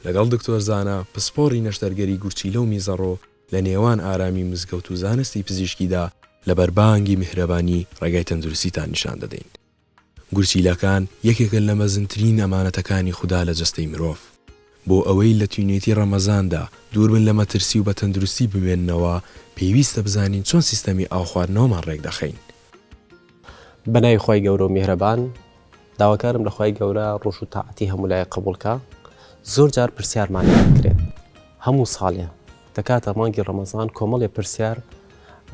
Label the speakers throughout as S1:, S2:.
S1: لەگەڵ دکتۆر زانا پسپۆڕی نەشتەرگەری گورچیلە و میزەڕۆ لە نێوان ئارامی مزگەوت و زانستی پزیشکیدا لە بەربانگی میهرەبانی ڕێگای تەندروستیتان نیشان دەدەین. گورچیلەکان یەکێکن لە مەزنترین ئەمانەتەکانی خودا لە جەستەی مرۆڤ. بۆ ئەوەی لە تینوێتی ڕەمەزاندا دووربن لە مەترسی و بە تەندروستی بمێننەوە، پێویستە بزانین چۆن سیستەمی ئاوخواردنەوەمان ڕێکدەخەین.
S2: بە ناوی خوای گەورە و میهرەبان داواکارم لە خوای گەورە ڕۆژ و تاعەتی هەموولایەک قبوڵکا زۆر جار پرسیارمان لێدەکرێت هەموو ساڵێ. دەکاتە مانگی ڕەمەزان کۆمەڵێ پرسیار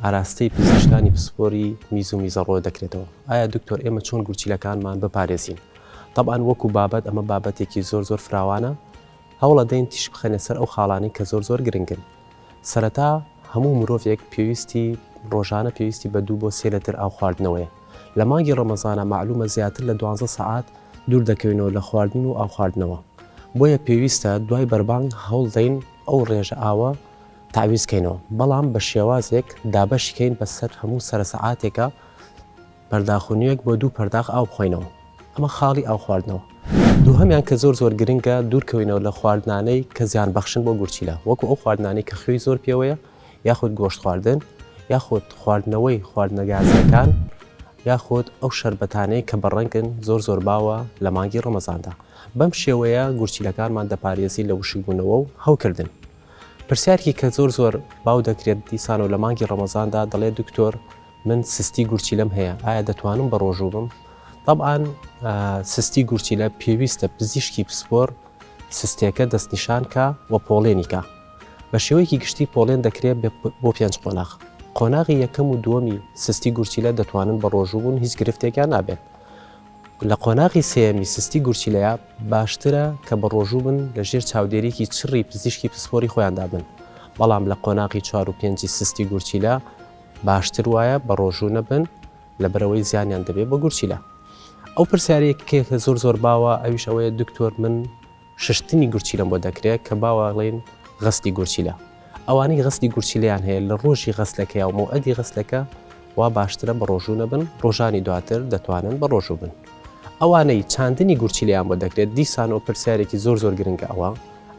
S2: ئاراستەی پزیشکانی پسپۆری میز و میزەڕۆ دەکرێتەوە ئایا دکتۆر ئێمە چۆن گورچیلەکانمان بپارێزین تەبان وەکو بابەت ئەمە بابەتێکی زۆر زۆر فراوانە هەوڵەدەین تیش بخەنە سەر ئەو خاڵانی کە زۆر زۆر گرنگن سەرەتا هەموو مرۆڤێک پێویستی ڕۆژانە پێویستی بە دوو بۆ سێ لەتر ئاو خواردنەوەیە لە مانگی ڕەمەزانە معلومە زیاتر لە دوانزە سەعات دوور دەکەوینەوە لە خواردن و ئاو خواردنەوە بۆیە پێویستە دوای بەربانگ هەوڵدەین ئەو ڕێژە ئاوە تاویز کەینەوە بەڵام بە شێوازێک دابەشی کەین بەسەر هەموو سەر سەعاتێکە پەرداخونیەک بۆ دوو پەرداخ ئاو بخۆینەوە ئەمە خاڵی ئاو خواردنەوە دووهمیان کە زۆر زۆر گرنگە دوورکەوینەوە لە خواردنانەی کە زیان بەخشن بۆ گورچیلە وەکو ئەو خواردنانەی کە خوێی زۆر پێوەیە یاخود گۆشت خواردن یاخود خواردنەوەی خواردنە گازیەکان یاخود ئەو شربەتانەی کە بەڕەنگن زۆر زۆر باوە لە مانگی ڕەمەزاندا بەم شێوەیە گورچیلەکانمان دەپارێزی لە وشکبوونەوە و هەوکردن پرسیارکی کە زۆر زۆر باو دەکرێت دیسان و لە مانگی ڕەمەزاندا دەڵێت دکتۆر من سستی گورچی لەم هەیە ئایا دەتوانم بە ڕۆژوو بم طبعاان سستی گورچی لە پێویستە پزیشکی پسپۆر سستێکە دەستنیشانکە و پۆڵێنیکە بە شێوەیەکی گشتی پۆڵێن دەکرێت بۆ پێنج قۆناغ. قۆناغی یەکەم و دووەمی سستی گورچیلە دەتوانن بە ڕۆژوو بوون هیچ گرفتێکیان نابێت. لە قۆناغی سێیەمی سستی گورچیلەیە باشترە کە بە ڕۆژوو بن لە ژێر چاودێریی چڕی پزیشکی پسپۆری خۆیاندا بن. بەڵام لە قۆناغی چوار و پێنجی سستی گورچیلە باشتر وایە بە ڕۆژوو نەبن لەبەرئەوەی زیانیان دەبێت بە گورچیلە. ئەو پرسیارەیەک کە زۆر زۆر باوە ئەویش ئەوەیە دکتۆر من ششتنی گورچیلەم بۆ دەکرێت کە باواڵێن غەسلی گورچیلە ئەوانەی غەسلی گورچیلیان هەیە لە ڕۆژی غەسلەکەی و مەوعەدی غەسلەکە وا باشترە بە ڕۆژوو نەبن ڕۆژانی دواتر دەتوانن بە ڕۆژوو بن ئەوانەی چاندنی گورچیلیان بۆ دەکرێت دیسان و پرسیارێکی زۆر زۆر گرنگە ئەوە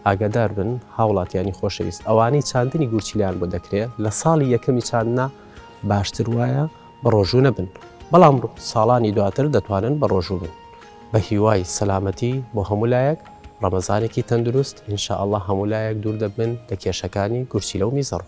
S2: ئاگادار بن هاوڵاتیانی خۆشەویست ئەوانەی چاندنی گورچیلیان بۆ دەکرێت لە ساڵی یەکەمی چاندنا باشتر وایە بە ڕۆژوو نەبن بەڵام ساڵانی دواتر دەتوانن بە ڕۆژوو بن بەهیوای سەلامەتی بۆ هەموو لایەک، ڕەمەزانێکی تەندروست، ان شاء اللە هەموو لایەک دوور دەبن لە کێشەکانی گورچیلە و میزەڕۆ.